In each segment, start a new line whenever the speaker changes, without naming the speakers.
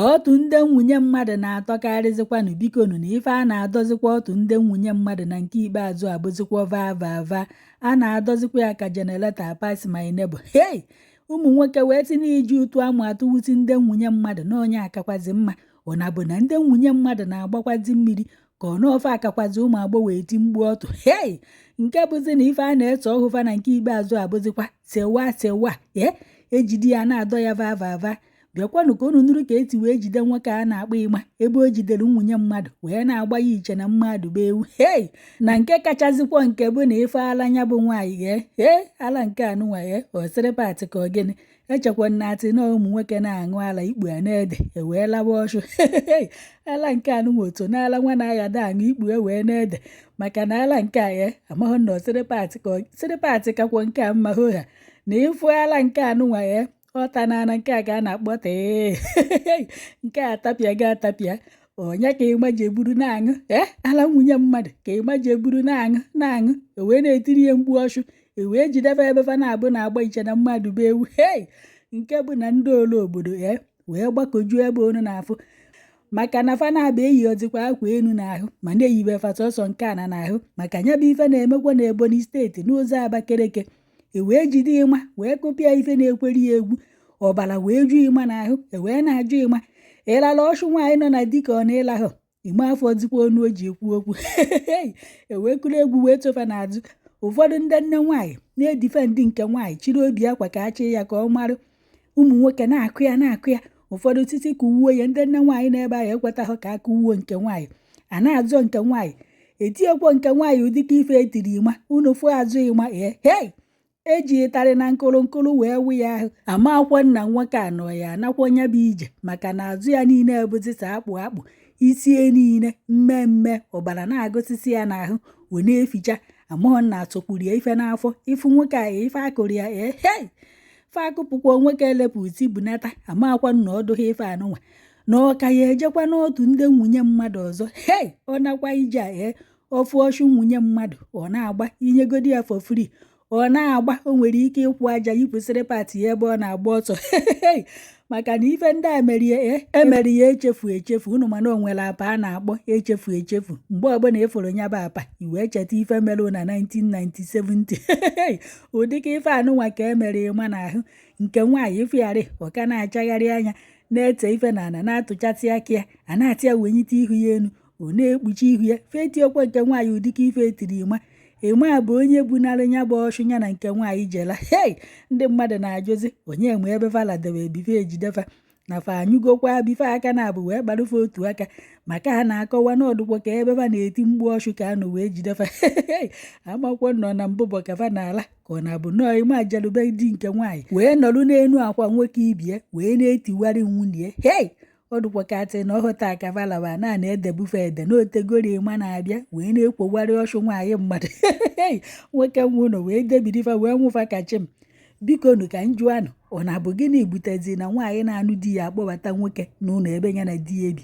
Ọtụ ndị nwunye mmadụ na-atọkarịzịkwanụ bikonu na ife a na-adọzikwa ọtụ ndị nwunye mmadụ na nke ikpeazụ abụzikwa vaa vaa vaa a na-adọzikwa ya ka jenereta pass my neighbor hei ụmụ nwoke wee tinye iji ụtụ amụ atụwusi ndị nwunye mmadụ na ọ nya akakwazi mma ọ na-abụ na ndị nwunye mmadụ na-agbakwazi mmiri ka ọ n'ofe akakwazi ụmụ agbọghọ eti mgbu ọtụ hei nke bụzi na ife a na-eso ọhụ fa na nke ikpeazụ abụzikwa sewa sewa ee e jide ya na-adọ ya vaa vaa vaa bịakwanụ ka unu nụrụ ka e si wee jide nwoke a na-akpọ Ịma ebe o jidere nwunye mmadụ wee na-agba ya i che na mmadụ bụ ewu hei na nke kachazikwa nke bụ na ife ala nya bụ nwaanyị ghee hee ala nke anụnwa ghee osịrị patị ka ogene e chekwa na a sị na ụmụ nwoke na-aṅụ ala ikpu a na-ede e wee lawa ọchụ ala nke anụnwa otu na ala nwa na-agha da aṅụ ikpu ewee na-ede maka na ala nke a ghee amaghị na osịrị patị ka sịrị patị kakwa nke a mma ha na ịfụ ala nke anụnwa ghee ọta na ana nke a ka a na-akpọ tee nke a tapịa ga atapịa ọ nya ka Ịma ji eburu na-aṅụ ee eh, ala nwunye mmadụ ka ịma ji eburu na-aṅụ na-aṅụ ewee na-etiri ya mgbu ọchụ ewee jidebe ebe fa naabọ na-agba i che na mmadụ bụ ewu hei nke bụ na ndị ole obodo ya eh, wee gbakọjuo ebe unu na-afụ maka na fa naabọ eyihozikwa akwa elu n'ahụ ma na e yibe fa sọsọ nke ana n'ahụ maka nya bụ ife na-emekwa na Ebonyi steeti n'ụzọ Abakeleke e wee jide ịma wee kụpịa ife na-ekweri ya egwu ọbara wee ju ịma n'ahụ e wee na-ajụ ịma ị lala ọchụ nwaanyị nọ na di ka ọ na ị lahụ ịma afọzikwa ọnụ o ji ekwu okwu e wee kụrụ egwu wee so fa n'azụ ụfọdụ ndị nne nwaanyị na-edifendị nke nwaanyị chịrị obi akwa ka a chị ya ka ọ marụ ụmụ nwoke na-akụ ya na-akụ ya ụfọdụ sị sị kụwe ya ndị nne nwaanyị na-ebe ahụ ekwetaghị ka a kụwe nke nwaanyị a na-azọ nke nwaanyị etiekwo nke nwaanyị ụdịka ife e tiri ịma unu fụ azụ ịma ee hei e ji ịtarị na nkụrụ nkụrụ wee wụ ya ahụ amakwa na nwoke a nọ ya anakwa nya bụ ije maka na azụ ya niile abụzịsịa akpụ akpụ isi ya niile mmee mmee ọbara na-agụsisi ya n'ahụ wee na-eficha amahọ na a tụkwuru ya ife n'afọ ị fụ nwoke a ife a kụrụ ya ee hei fa akụpụkwa nwoke a elepụ iti bunata amakwa na ọ dụghị ife anụnwa na ọ ka ya-ejekwa n'ọtụ ndị nwunye mmadụ ọzọ hei ọ nakwa ije a ee ọ fụ ọchụ nwunye mmadụ ọ na-agba i nyegodi ya for free ọ na-agba o nwere ike ịkwụ aja yipụsịrị pati ya ebe ọ na-agba ọsọ hei maka na ife ndị a merie e emere ya echefu echefu unu ma na o nwere apa a na-akpọ echefu echefu mgbe ọbụla ị fụrụ nya bụ apa i wee cheta ife mere na 1970 ụdịka ife anụnwa ka e mere ịma n'ahụ nke nwaanyị ịfụgharị ọ ka na-achagharị anya na-ete ife na ana na-atụchasị aka ya a na-asị ya wenyite ihu ya enu ọ na-ekpuchi ihu ya fetiekwa nke nwaanyị ọ dị ka ife etiri ịma ịma bụ onye bunara ya bụ ọchụ ya na nke nwaanyị jela hei ndị mmadụ na-ajụzi onye ma ebe fa ladebe before e jide fa na fa anyụgokwa before aka na abụ wee gbarụ fa otu aka maka ha na-akọwa na ọ dụkwa ka ebe fa na-eti mkpu ọchụ ka a nụ wee jide fa amakwọ nọ na mbụbọ ka fa na-ala ka ọ na-abụ nọọ ịma aja lu be di nke nwaanyị wee nọrụ n'elu akwa nwoke ibe ya wee na-etiwarị nwunye hei ọ dụkwa ka a tị na ọhụta akavalawa na na-edebu fa ede na o tegori ma na-abịa wee na-ekwogwarị ọchụ nwaanyị mmadụ nwoke nwe ụlọ wee debiri fa wee nwụ fa kachi m bikonu ka m jụọnụ ọ na-abụ gịnị butezi na nwaanyị na-anụ di ya akpọbata nwoke n'ụlọ ebe ya na di ya ebi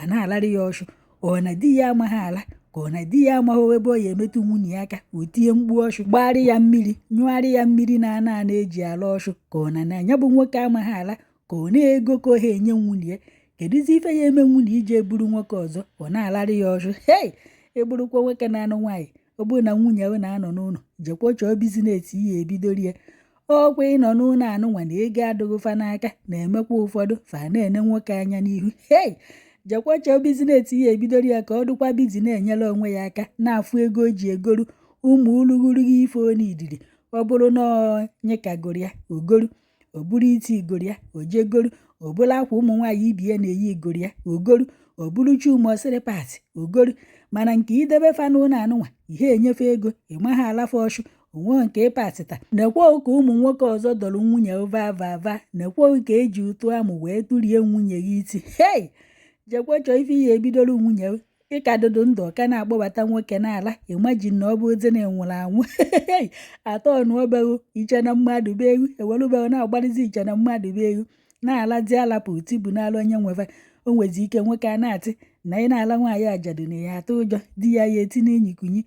a na-alarị ya ọchụ ọ na di ya amaghị ala ka ọ na di ya amaghị ebe ọ ya-emetụ nwunye ya aka o tie mkpu ọchụ gbagharị ya mmiri nyụgharị ya mmiri n'ana a na-eji ala ọchụ ka ọ na na ya bụ nwoke amaghị ala ka ọ na ego ka ọ ha enye nwunye ya kedụzi ife ya-eme nwunye i jee buru nwoke ọzọ ọ na-alarị ya ọchụ hei ị bụrụkwa nwoke na-anụ nwaanyị ọ bụrụ na nwunye ya na-anọ n'ụlọ jekwa chọọ business ị ya-ebidori ya ọ kwa ịnọ n'ụlọ anụnwa na ego adịghị fa n'aka na-emekwa ụfọdụ fa na-ene nwoke anya n'ihu hei jekwa chọọ business ị ya-ebidori ya ka ọ dịkwa busy na-enyere onwe ya aka na-afụ ego o ji egoru ụmụ urughuru ife o needịrị ọ bụrụ na onye kagoro ya o goru ọ bụrụ iti i gori ya o je goru ọ bụrụ akwa ụmụ nwaanyị ibe ya na-eyi i gori ya o goru ọ bụrụ chuma osiri pati o goru mana nke idebe fa n'ụlọ anụnwa ị ha enye fa ego ị ma ha ala fa ọchụ o nwe nke ị patịta nekwa ka ụmụ nwoke ọzọ dọrọ nwunye vavava nekwa ka e ji ụtụ amụ wee tụrie nwunye gị iti hei jekwa chọọ ife ị ya-ebidoro nwunye ị ka dụdụ ndụ ọ ka na-akpọbata nwoke na-ala imagine na ọ bụzi na ị nwụrụ anwụ atọ ọnụ be gị i che na mmadụ bụ ewu e welụ be gị na-agbalịzi i che na mmadụ bụ ewu na-alazi alapụ uti bụ n'ala onye nwe fa o nwezi ike nwoke a na-atị na ị na-ala nwaanyị ajadu na ya atụ ụjọ di ya ya-eti n'inyi kunyi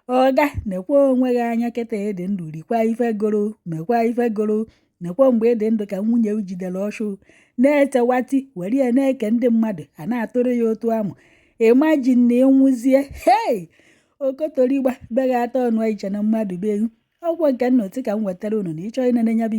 ọga nekwa onwe gị anya kịta ị dị ndụ rikwa ife gụrụ mekwa ife gụrụ nekwa mgbe ị dị ndụ ka nwunye i jidere ọchụ na-etewati were ya na-eke ndị mmadụ a na-atụrụ ya ụtụ amụ imagine na ị nwụzie hei okotorigba be gị atọ ọnụ i che na mmadụ bụ ewu ọgwọ nke nna oti ka m wetara unu na ị chọọ ịnene nya bụ